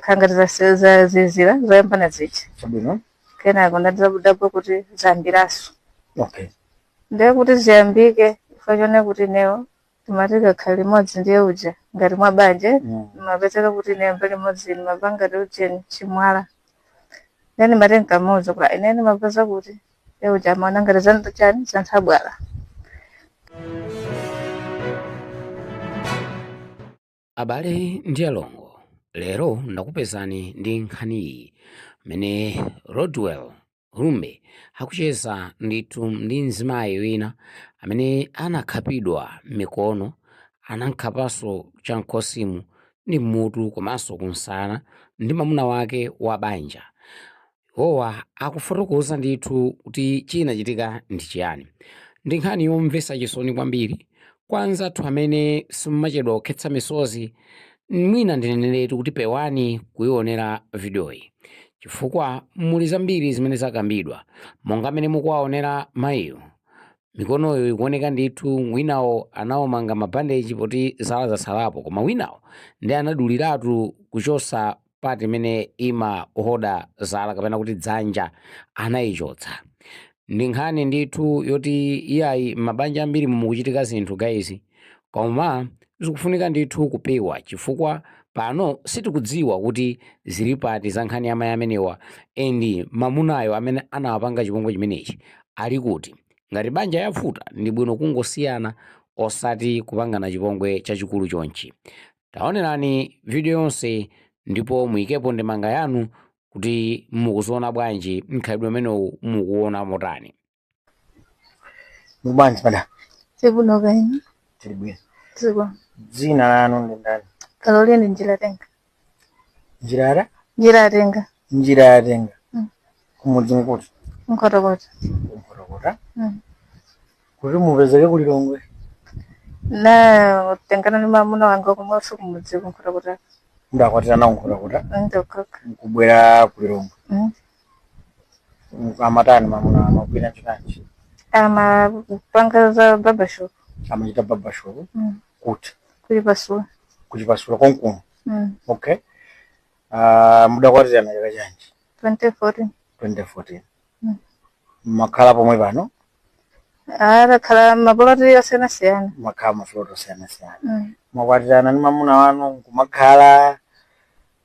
khala ngati zazizira zoyambana zija chabwino kenako ndadabwa kuti zambiraso okay ndiye kuti ziyambike chifukwa choti ineyo timati tikakhala limodzi ndiye uja ngati mwa banja Mm. mapezeka kuti ineyo mbali imodzi ndimapanga ujeni chimwala ndiye ndimati nkamuuza kuti ine ndimapeza kuti iye uja amaona ngati zinthu chani zanthabwala Abale ndi alongo, lero ndakupezani ndi nkhaniyi imene Rodwell Rumbe akucheza ndithu ndi mzimayi wina amene anakhapidwa m'mikono, anamkhapanso cham'khosimu ndi m'mutu komanso kumsana ndi mamuna wake wa banja. Iwowa akufotokoza ndithu kuti chinachitika ndi chiyani. Ndi nkhani yomvetsa chisoni kwambiri kwa anzathu amene simmachedwa kukhetsa misozi. Mwina ndineneretu kuti pewani kuionera vidiyoyi chifukwa muli zambiri zimene zakambidwa. Monga mmene mukuwaonera mayiwo, mikonoyo ikuoneka ndithu, winawo anawumanga mabandeji poti zala zatsalapo koma winawo ndiye anaduliratu kuchotsa. part imene imahoda zala kapena kuti dzanja anayichotsa ndi nkhani ndithu yoti iyayi mabanja ambiri mukuchitika zinthu guys koma zikufunika ndithu kupewa chifukwa pano sitikudziwa kuti zili pati za nkhani ya mayi amenewa and mamunayo amene anawapanga chipongwe chimenechi ali kuti ngati banja yavuta ndi bwino kungosiyana osati kupangana chipongwe chachikulu chonchi Taonerani video yonse ndipo muyikepo ndemanga yanu kuti mukuziona bwanji mkhalidwe umenewu mukuona motani. Muli bwanji madam? Tili bwino kaya inu. Tili bwino. Tili bwino. Dzina lanu ndi ndani? Caroline Njirayatenga. Njiraya? Njirayatenga. Njirayatenga. kumudzi nkuti Nkhotakota ku Nkhotakota Mm. kuti mupezeke ku lilongwe tinatengana ni mamuna wanga kumwakonso kumudzi ku Nkhotakota mudakwatirana ku Nkhotakota Nkhotakota nkubwera ku lilongwe Mm. amatani mamuna amagwira ntchito yanji amapanga za babashop amachita babashop Mm. kuti ku Chipasula ku Chipasula konkuno Mm. okay Ah, mudakwatirana chaka chanji 2014 2014 Mm. mmakhala pomwe pano a takhala mapoloti osiyanasiyana mmakhala mapoloti osiyanasiyana Mm. mwakwatirana ndi mamuna wanu nkumakhala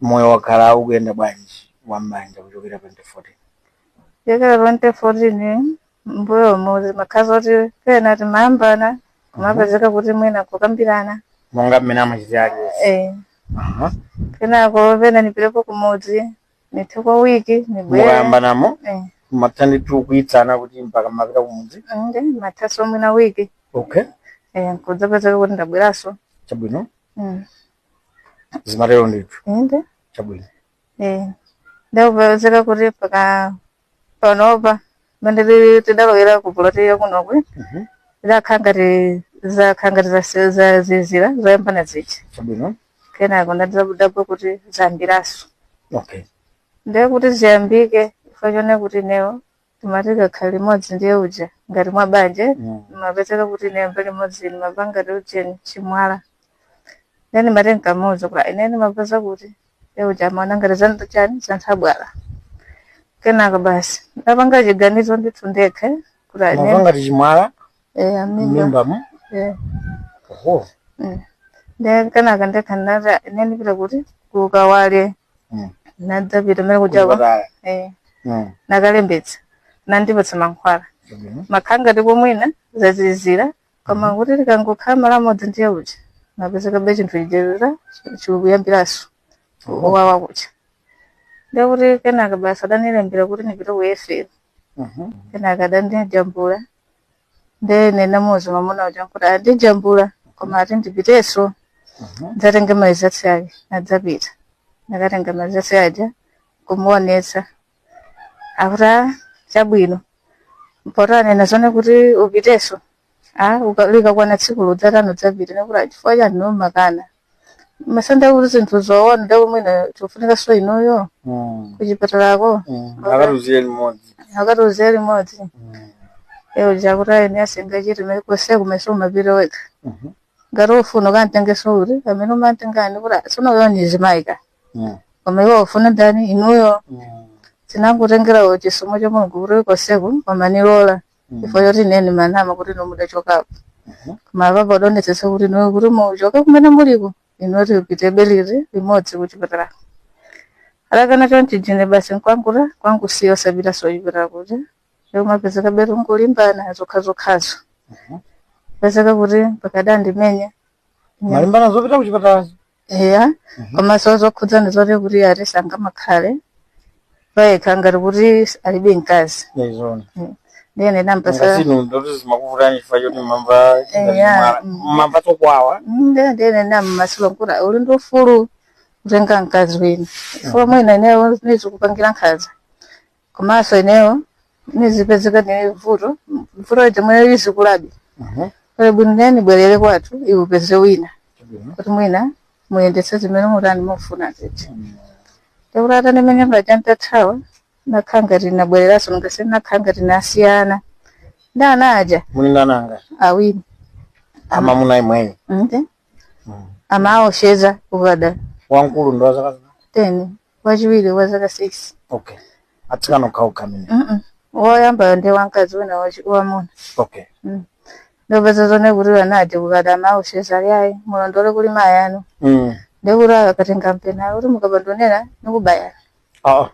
moyo wakhala ukuyenda bwanji wa m'banja kuchokera 2014 kuchokera 2014 mbuyo muzimakhazi oti pena timayambana kumapezeka kuti mwina kukambirana monga mmene amachitira aliyense eh Aha. kenako pena nipirepo kumudzi nithe kwa wiki nibwere mukayambanamo eh matha ndithu kuyitsana kuti mpaka mapita kumudzi nde mathaso mwina wiki okay eh nkudzapezeka kuti ndabweranso chabwino Mm. zimatero ndithu inde chabwino eh ndakupezeka kuti mpaka panopa pamene ti- tidalowera ku puloti yakunokwe Mhm. zakhala ngati zakhala ngati zase- zazizira zoyambana zichi chabwino kenako ndadabwa kuti zayambiraso okay ndiye kuti ziyambike chifukwa chonena kuti neyo timati tikakhala limodzi ndiye uja ngati mwa banja Mm. mapezeka kuti ine mbali imodzi ine mapanga ndi ujeni chimwala ndiye mati nkamuuza kuti ine ndimapeza kuti e uja amaona ngati za chani zanthabwala kenaka basi ndapanga chiganizo ndithu ndekha kuti mava ane ngati chimwala e amimba mmimbamo e oho nde kenaka ndekha ndinati ine ndipita kuti kukawale Mm. nadzapita mene kujawa Kuchipatala. e Mm. nakalembetsa nandipatsa mankhwala Chabwino. makhala ngati mwina zazizira koma kuti tikangokhala malo amodzi ndiye kuti napezekabe chinthu chija chikuyambiranso Oho. owawa kucha ndiye kuti kenaka basi adanilembera kuti nipite ku efero Mhm. kenaka adandijambula ndiye nena mzimamuna uja nkuti andijambula koma ati ndipitenso Mhm. ndzatenga marizatsi ake nadzapita ndakatenga marizatsi aja kumuonetsa akuti "Ah, chabwino mpoti anena zonena kuti upiteso a uka- likakwana tsiku ludzatano dzapita nekuti "Ah, chifukwa chani nomakana masenda kuti zinthu zoona ndakuti mwina chikufunikaso inuyo kuchipatalako akatiuzire limodzi akatiuzire limodzi eyo yakuti ayi ine sizingachitike kose kumeso umapita wekha ngati ufuna ukantengeso uri amene umantengani kuti "Ah, tsono uyo nizimaika Mm. koma iwo ufuna ndani inuyo Mm. tinangotengerawo chisomo cha mulungu kuti konseku amanilola ifo yoti ine nimanama kuti inu mudachokapo koma apapo adonetsetsa kuti inuyo kuti muchoke kumene muliko inuyo tipite beliri limodzi kuchipatala alakana chonchijine basi nkwanguta kwangusiya osapitaso chipatala kuti kumapezekabe tikulimbana zokhazokhazo pezeka kuti mpaka adandimenya malimbana zopita kuchipatalazo eya Mhm. komanso zokhudzana zoti kuti ati sangamakhale payekha ngati kuti alibe mkazi yaizona ndiye ine nampasa ngasinu ndoti zimakuvutani chifukwa choti mumamva Eya, mm. mumamva chokwawa ndiye ine ndiye ine nammasula kuti uli ndi ufulu kutenga mkazi wina chifukwa mwina ineyo ndizikupangira nkhaza komanso ineyo nizipezeka nili mvuto vuto limene lizikulabe Mhm. kale bwino ine nibwerere kwathu iwe upeze wina Chabwino. kuti mwina muyendetse zimene mutani mufuna ziti takuti atanimenya paja ntathawa nakhala ngati nabwereranso ngasi nakhala ngati nasiyana ndi ana aja munali ndi ananga awiri amuna imweyo nde amawopseza ukada wankulu ndi wa zaka teni wachiwiri wa zaka 6 okay atsikana okhaokha amene Mm-mm. woyambayo ndi wamkazi wina wachi- wamuna okay nde kupeza zoona kuti ana aja kukada amawopseza ayi mulondole kuli mayi anu mm. ndekuti akatenga mpeni kuti mukabandonera nikubayani ah,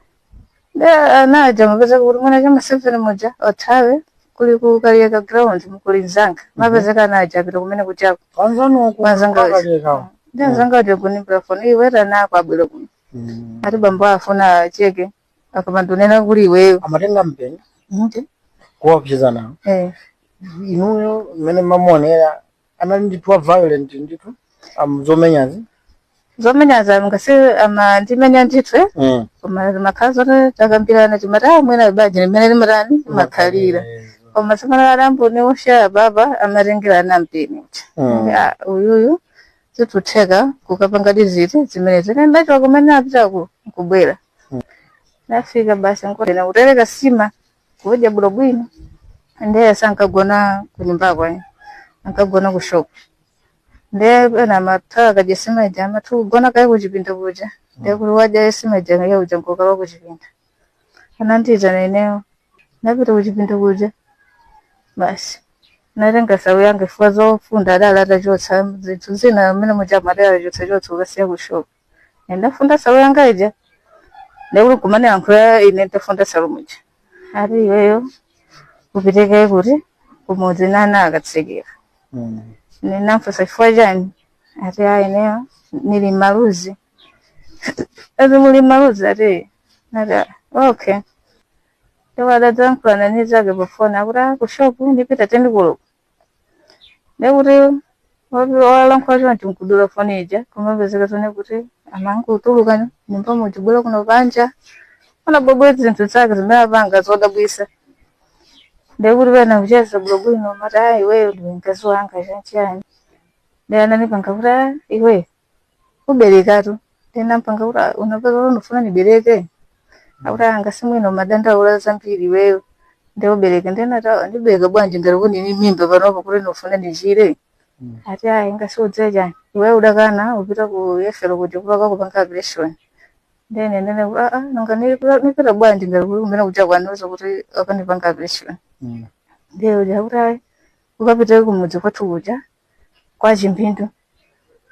nde anaja mapezeka kuti mwana chama 7 muja othawe kuli ku kaliyeka ground mkuli mzanga mapezeka ana aja apita kumeneko kuja Anzanu aku Anzanga- akaliyekawo. ndi mzanga ati kuniimbira foni iwe ana ako abwere kuno Mm. ati bambo afuna acheke akamandonena kuli iweyo Amatenga mpeni Nti? kuwaopseza nawo. Eh. Inuyo mmene mamuonera anali ndithu wa violent ndithu a zomenyazi zomenyaza ngati amandimenya ndithu mm. koma zimakhala zoti takambirana timati ah mwina banja limene limatani limakhalira koma simana alambuni osha baba amatengerana mpeni Mm. Ah, uyuyu zitutheka kukapanga diziti zimene zine ndachiwa kumene apita ku- kubwera nafika basi nkotena kutereka sima kudya bwinobwino ndiye sankagona ku nyumbako ayi ankagona ku shop ndiye pena amatha akadya sima ija amatha kugona kaye kuchipinda kuja ndiye kuti wadya sima ija kaye kuja nkukhala kuchipinda anandiyitana ineyo ndapita kuchipinda kuja basi natenga shawo yanga chifukwa zofunda adali atachotsa zinthu zina amene muja adali atachotsachotsa kukasiya ku shop ndafunda shawo yanga ija ndekuti kumanilankhula ine ndafunda shawo muja ati iweyo upiteko kuti kumudzi ndi ana akatsekera Mm. ninamfusa chifukwa chani ati a ineyo nili mmaluzi ati muli mmaluzi ati ati "Ah, okay nde atadzalankhulana ni nzake pafoni akuti "Ah, ku shopu ndipita teni koloko ndekuti walankhula choncho nkudula foni ija kumapezeka zoona kuti amangotuluka mnyumba muja kubwera kuno panja anabwebweta zinthu zake zimene apanga zodabwisa ndekuti pena kucheza bwinobwino amati a iweyo ndiwe mkazi wanga chanichani nde ananipanga kuti a iwe kuberekatu ndinampanga kuti "Ah, unapeza kuti ndifuna ndibereke akuti anga simwino mumadandaula zambiri iweyo nde ubereke ndinati ndibereka bwanji ngati kuti ndini mimba panopo kuti ndifuna ndichire ati ayi usandiuze chani iweyo udakana upita ku yefero kuti upite akakupange operation ndene ndene kuti aa nanga nipita nipita bwanji ngati kuti kumene kuja anandiuza kuti akandipanga operation ndeuja kuti ayi ukapita kumudzi kwathu kuja kwa Chimpindu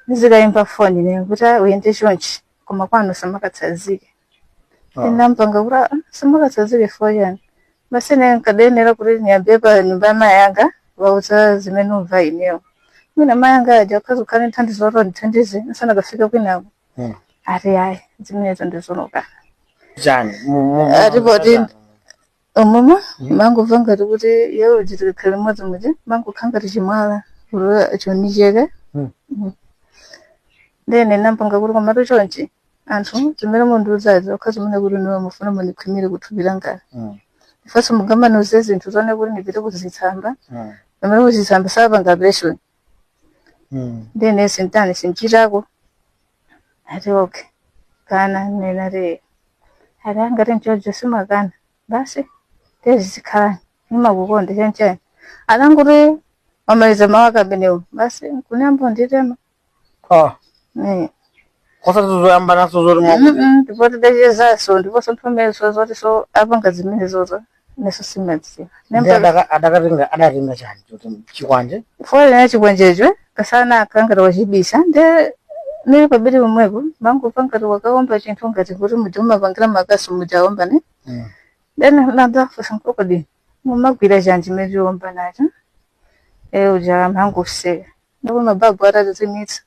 ndizikayimba foni ne kuti "Ah, uyende chonchi koma kwanu usakatsanzike Ah. ndinampanga kuti "Ah, ndisakatsanzike for chiyani basi ne nkayenera kuti niyambire pa nyumba ya mayi anga ndiwauze zimene ndikumva inewo mwina mayi anga aja akhoza kukhala nthandizo oti andithandize nsanakafika kwinako Mm. ati ayi zimenezo ndizolokana chani Mu- mu- mu- Ati poti- momwemo ndimangomva ngati kuti yewe uchitikakhala limodzi muja mumangokhala ngati chimwala kuti choni cheke Mm. Mm. ndene nampanga kuti komatu chonchi zinthu zimene mundiuzazi zokhazi zimene kuti nde mufuna mundikhwimire kuthupi langali Mm. ifanso mungamaniuze zinthu zonena kuti ndipite kuzitsamba Mm. pamene kuzitsamba sapanga operation Mm. ndene sintani sinditako ati okay nkananena kuti ati ngati nchoncho usamakana basi tizikhala nimakukonda chanchani atangoti wamaliza mawu amenewo basi nkuyamba kunditema ah Eh. osati zoyambananso zoti mwakuti Mm-mm, ndipo tidachezanso ndiponso nthawi imeneyo zotinso apanga zimenezozo inenso simadziwa Ndiye adaka- adakatenga adatenga chani choti chikwanje foloni chikwanjecho masana anakhala ngati wachibisa nde nili pabedi pomwepo mangomva ngati wakaomba chinthu ngati kuti muja mumapangira makasu muja aomba ne Mm. then ndinafunsa kuti kodi mumagwira chani chimene mwaomba nacho iye uja amangoseka ndipo mababu atazimitsa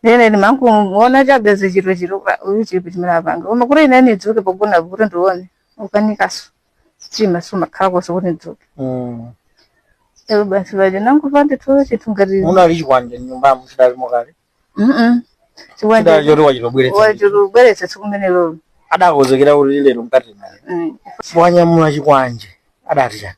nde ine mangomuona chabe chithunzi chake uyu chinthu chimene apanga koma kuti ine nidzuke pogona kuti ndione kukanikanso chifukwa simakhala konse kuti ndidzuke Mm. nde basi paja nangomva nditoo chinthu kodi munali chikwanje mnyumbamo chidalimo kale Mm-mm. chidali chikwanje choti wachitobweretsa wachitobweretsa tsiku limenelo adakonzekera kuti lero nkathana naye Mm. wanyamula chikwanje adati chani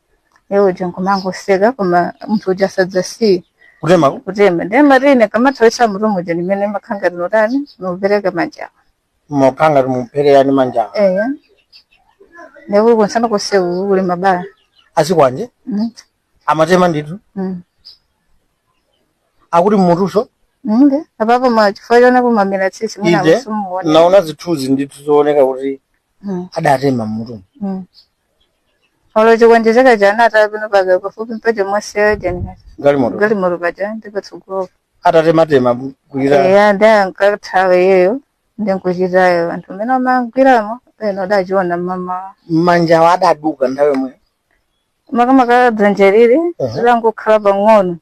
iwo aja nkumangoseka koma munthu uja asakusiya kutema kutema ndiye ngati ndikamathawitsa mutumuja ndimene makhala ngati ndikutani ndikupereka manjawa makhala ngati ndikupherera ndi manjawa eya ndekuli kunsana kuseri kuli mabala azikwanje Mm, amatema ndithu mm. akuti mmutunso nde apapo koma chifukwa chonena kuti kumamera tsitsi mwina inde simuona ndaona zithunzi ndithu zooneka kuti adatema mmutumo olo chikwanje chake ja anataya penapake pafupi mphepete mwa msewu jani galimoto galimoto paja ndipatsogolo atatematema kuira eya ndi ankathawa iyeyo ndi nkuchitaya anthu amene amagwiramo ena adachiona mmamawa manjawo adaduka nthawi yomweyo makamaka dzanja ili Aha. langokhala pang'ono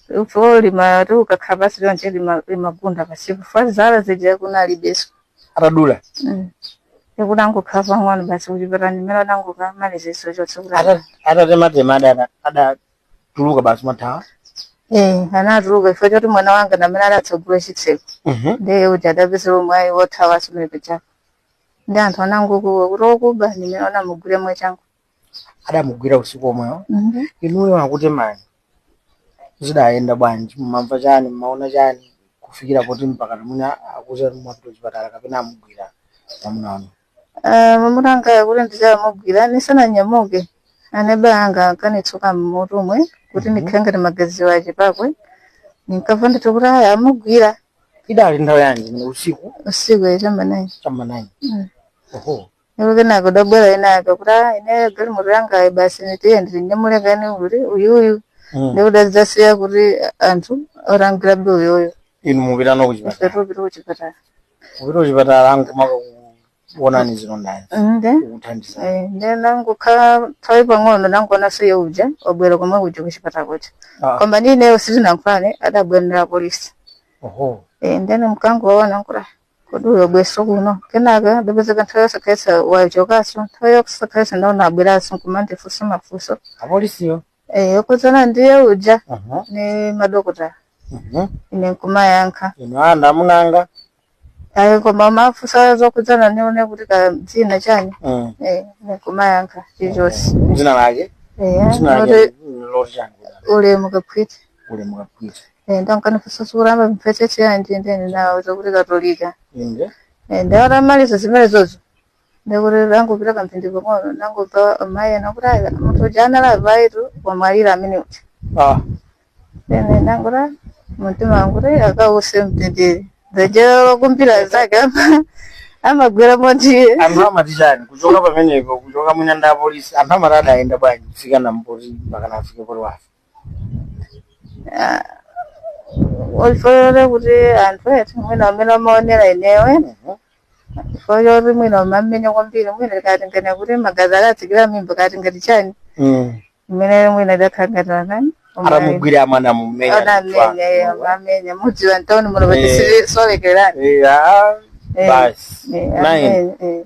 Ifo limati ukakhala pasi lonje lima- limagunda pasi kufa zala zija kunalibeso atadula Mm. kunangokhala pang'ono basi kuchipatala ndi mmene anangokamalizaso chonse kuti Ata- atatematema ada- adatuluka basi amathawa Eh, anatuluka ifo choti mwana wanga ndi amene adatsagula chitseko Mhm. ndiye kuti adapezera mwayi wothawa asumire pachako ndi anthu anangokuwa kuti okuba ndimene anamugwira mwachangu adamugwira usiku omwewo Mhm. inuyo akutemani zidayenda bwanji mumamva chani mumaona chani kufikira poti mpaka mwina akuza mwapita kuchipatala kapena amugwira mwamuna wanu Ah, mwamuna anga kuti ndizamugwira nisananyamuke aneba anga ankanitsuka mmutumu kuti ndikhale ngati magazi achepako ndinkamva ndithu kuti aya amugwira idali nthawi yanji mene usiku usiku cha mma naini cha mma naini Mm. oho Ndipo kenako adabwera enaake kuti "Ah, ine galimoto yangayi basi nitiye ndilinyamule kani kuti uyuyu Mm. ndipo adadzasiya kuti anthu orangirabe uyoyo inu mupita no kuchipatala ife tupita kuchipatala mupita kuchipatala nkumakakuonani zilondazi nde kukuthandiza eh, nde nangokhala nthawi pang'ono nangoonaso iye uja wabwera komwe kuja kuchipatala kuja Ah. koma ndineyo sitinankhulane adabwera ndi apolisi oho Eh, ndiye ine nkungowaona nkuti kodi uyu wabweraso kuno kenaka ndapezeka nthawi yosakhalitsa wachokaso nthawi yosakhalitsa ndaona abweraso nkumandifunsa mafunso apolisiyo Eh, okhudzana ndi iye uja Aha. ni madokota Mhm. ine nkumayankha ino ana amunanga ayi koma amafunsa zokhudzana nione kuti ka dzina chani Mm. Eh, ine nkumayankha chilichonse dzina lake Eh, dzina loti lake loti chani Ulemu Kaphwiti Ulemu Kaphwiti Eh, ndiye ananifunsaso kuti amapemphera tchetchi yanji ndiye ine nawauza kuti katolika inde Eh, ndiye atamaliza zimenezozo ndi kutangopita kamphindi pang'ono nangomva amayi ena akuti ayi munthu uja anali apayutu wamwalira amene uja ah ine nangoti mumtima mwanga akause mtendere dzajero lokumbira zake ama- amagwira motiye anthu amati chani kuchoka pamenepo kuchoka mwina ndi apolisi anthu amati adayenda bwanji kufika na mpoti mpaka nafike poti wafa Ah, ofanana kuti anthu eti mwina amene amaonera inewe Mhm. chifukwa choti mwina amamumenya kwambiri mwina tikatengene kuti magazi akatsikira mmimba mkati ngati chani Mm. imene mwina idakhala ngati anani atamugwira amana mumenya anamenya iye amamenya mudziwa mtauni muno Eh. patisisolekerani basi nine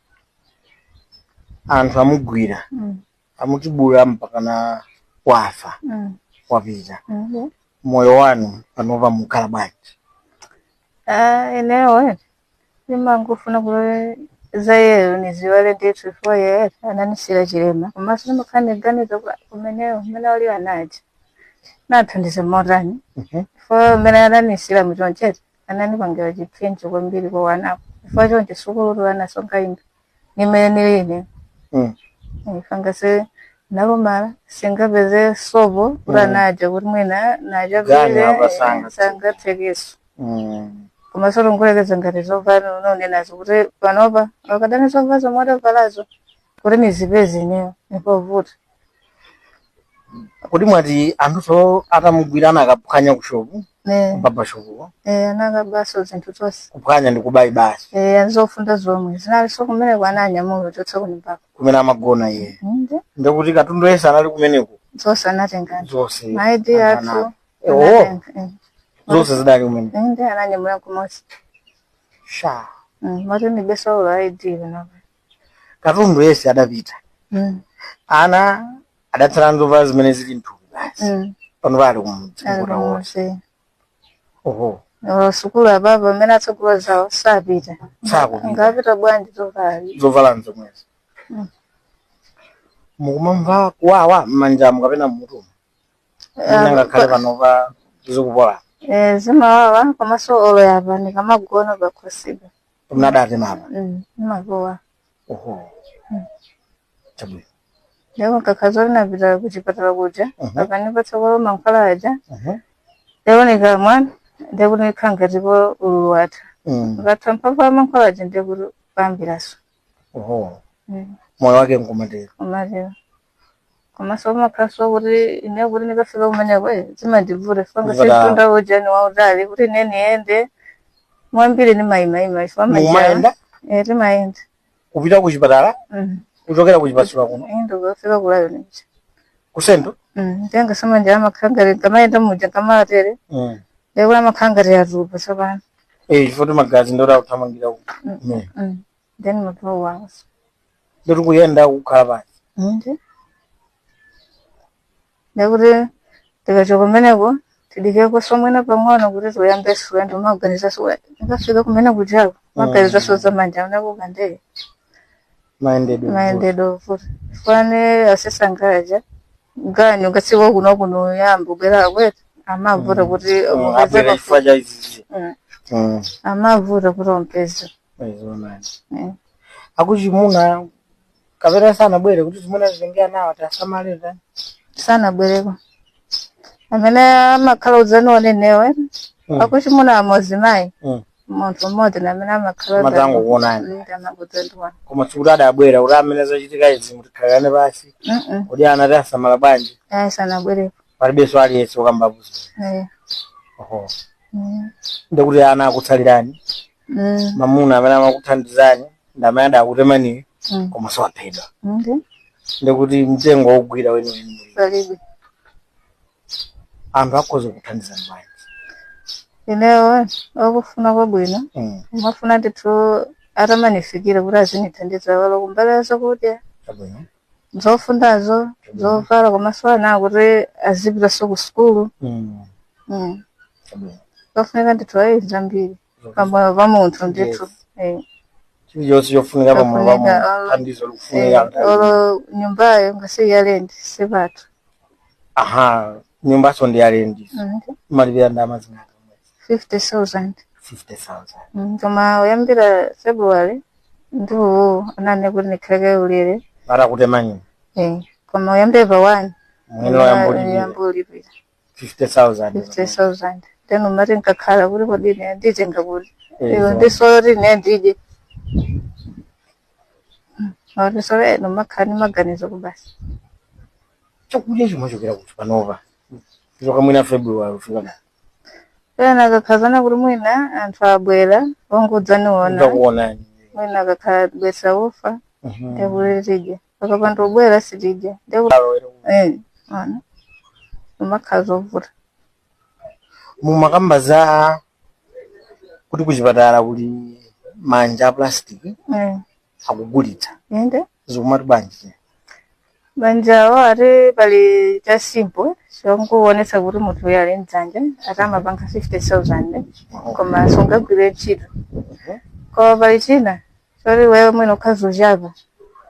anthu amugwira Mm. amutibula mpakana wafa Mm. wapita Mhm. moyo wanu panopa mukukhala bwanji Ah, inewe ndimangofuna kuti za yeyo niziwale ndithu chifukwa yeye ananisiyira chilema komanso ndimakhala ndiganiza kuti kumeneyo umene ali anaja nathandiza motani Mhm. chifukwa umene ananisiyira muchonchete anandipangira chipsinjo kwambiri kwa wanako chifukwa choncho sukulutu anasonkha ndi ine nimene nili ine Mm. ifanga ase nalumala singapeze sopo uti Mm. anaja kuti mwina Ganya nachapile apa sanga. sangatsekeso Mm. koma zolongolekeza ngati zovala unaonenazo kuti panopa akadali na zovala zomwe adavalazo kuti nizipeze ineyo nipovuta kodi mwati anthuso atamugwira anakaphwanya kushopu Eh, baba shopu eh, anakabaso zinthu zonse kuphwanya ndi kubayi basi Eh, azofunda zomwe zinalinso kumene ko ananyamula kuchotsa kunyumbako kumene amagona iye ndi ndikuti katundu yense anali kumeneko zonse anatenga zonse ma ID athu Anana. Eh, oh, anatenga, eh. zonse zidali kumeneko Eh, ndi ananyamula kumodzi sha moti ndilibeso olo ID panopa katundu yense adapita Mm. ana adatsala nzovala zimene zili mthupi basi Mm. panopa ali kumudzi Ali kukuta wonse kumudzi. oho Olo sukulu ababa amene atsogolo zawo sapita sakupita angapite bwanji zokali zovala nzomwezo Mm. mukumamva kuwawa mmanjamu kapena mmutumu Eh ngakhale panopa zikupola zimawawa komanso olo yapa ndikamagona pakhosipa mnadate mama Mm, ndimakuwa oho Mm. chabwino lero kangakhale napita kuchipatala kuja Mhm. akanipatsa kwa mankhwala aja Mhm. nde nikamwa ndekuti zikhala ngati po ululu watha Mm. ukatha mphamvu ya mankhwala aja ndekuti payambiraso oho Mm, moyo wake nkumatero umatero komanso kumakhalanso kuti ine kuti ndikafika kumeneko eh, zimandivuta chifukwa Ndivuta. sindiyenda ujani wautali kuti ine niyende kwambiri ndimayimayima chifukwa majani mumayenda eh, timayenda kupita ku chipatala Mhm. kuchokera ku chipatala kuno Ine ndikafika kulayo nija kusendo tenga zamanja amakhala ali kamayenda muja kamatere Mm. ndikuti amakhala ali atupa tsopano Eh, chifukwa magazi ndota kuthamangira ku- kumene Mm. then mabro wanso ndiri kuyenda kukhala pansi ndi ndekuti tikachoka kumeneko tidikekoso mwina pang'ono kuti tiyambeso ulendo maganiza suwa ndikafika kumene kujako maganizaso za manja unakuka ndee mayendedwe mayendedwe ovuta fane asesangaja ganyu kasiwa kuno kuno yambo bwera kwetu amavuta kuti mupeze abwera pafupi. chifukwa cha izizi Mm. Mm. amavuta kuti umupeze akuchimuna kapena sanabwere kuti zimuna zitengera nawo tasamalira sanabwereko amene amakhala udzaniwona inewo Mm. akuchimuna amozimayi Mm. munthu mmodzi na amene amakhala udzani- Amadzangokuonani. Mm, amangodzandiona. koma sikuti adabwera kuti amene zachitika izi mutikhalirane pasi Mm-mm. kuti ana tiwasamala bwanji ayi sanabwereko palibenso aliyense ukambapusa Eh, oho mm. ndekuti ana akutsalirani Mm. mamuna amene amakuthandizani ndi amene adakutemaniyo Mm. komanso waphedwa Okay. ndekuti mtengo wogwira weniweni muli Palibe. anthu akhoza kuthandizani bwanji Inewo okufuna kwabwino Mm, nimafuna ndithu atamanifikira kuti azinithandiza olo kumbali ya zakudya chabwino zofundazo zovala komanso ana kuti azipitanso ku sukulu Mm. Mm. Chabwino. zofunika ndithu ayi zambiri pamoyo pa munthu ndithu Eh. chilichonse chofunika pa moyo wa Chofunika, munthu ah. thandizo likufunika Eh, nthawi zina. olo nyumbayo ngati ya lendi sipathu aha nyumbaso ndi ya lendi Mm, mumalipira ndalama zingati 50,000. 50000 Mm, Koma oyambira February ndi iwo ananena kuti ndikhaleko ulere. atakutemani Eh, koma oyambira pa 1 mwene wayamba ulipira yamba ulipira 50000 50,000. Then nimati nkakhala kuti kodi ine nditenga kuti. Eh, Iwe zo. ndi zoti ine ndidye. Mm, Ndisoyo eno makhala ni maganizo basi. chakudya chimachokera kuti panopa kuchoka mwina february kufika na pena akakhazana kuti mwina anthu abwera ongodzaniona ndakuonani mwina akakhala abweretsa ufa ndekuti tidya pakapanda obwera sitidya ndekuti eh ana umakhala zovuta mumakamba za kuti kuchipatala kuli manja a plastic eh akugulitsa inde zikumati bwanji manjawo ati pali cha simple chongoonetsa kuti munthu uyu ali ndi dzanja ati amapanga 50000 koma sungagwire ntchito koma pali china choti iwe mwina ukhoza uchapa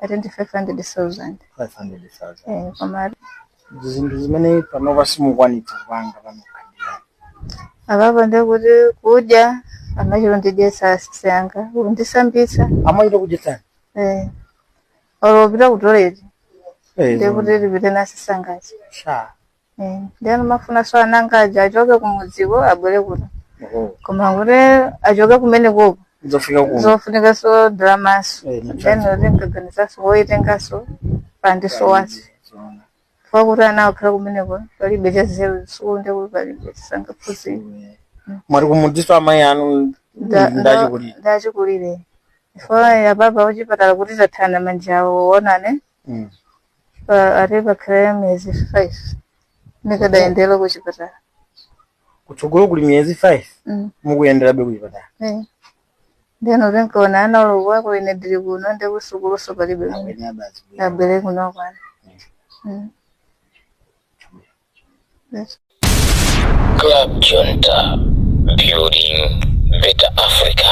ati ndi 500000 500,000 Eh, koma zinthu zimene panopa simukwanitsa kupanga panokha apapo ndekuti kudya amachita undidyesa asisi anga kundisambisa amachita kudyetsani eh. olo upita kutoleti Eh, ndekuti tipite nasisi anga sha Eh, ndiye nimafunaso ana anga aja achoke kumudziko abwere kuno oho koma kuti achoke kumene uko kuzafika kuno zofunikaso ndalamaso Eh, then uti nkaganizaso poyitengaso pandisowaso chifukwa kuti ana akhala kumeneko palibe cha zero sukulu ndi kuti palibe sangaphunzire amati kumudziso amayi anu Nda- nda- ndachikulire ndachikulire chifukwa ya baba kuchipatala kuti tathana manja awo awone Mm. pa- ati pakhala miyezi five ndikadayendera kuchipatala kutsogolo kuli miyezi 5 Mm. mukuyenderabe kuchipatala Eh. ndeno ndinkaona ana awo kuti ine ndili kuno ndi kusukuluso palibe mwina abwere kuno kwanu Mm. That's Club Junta, building better Africa.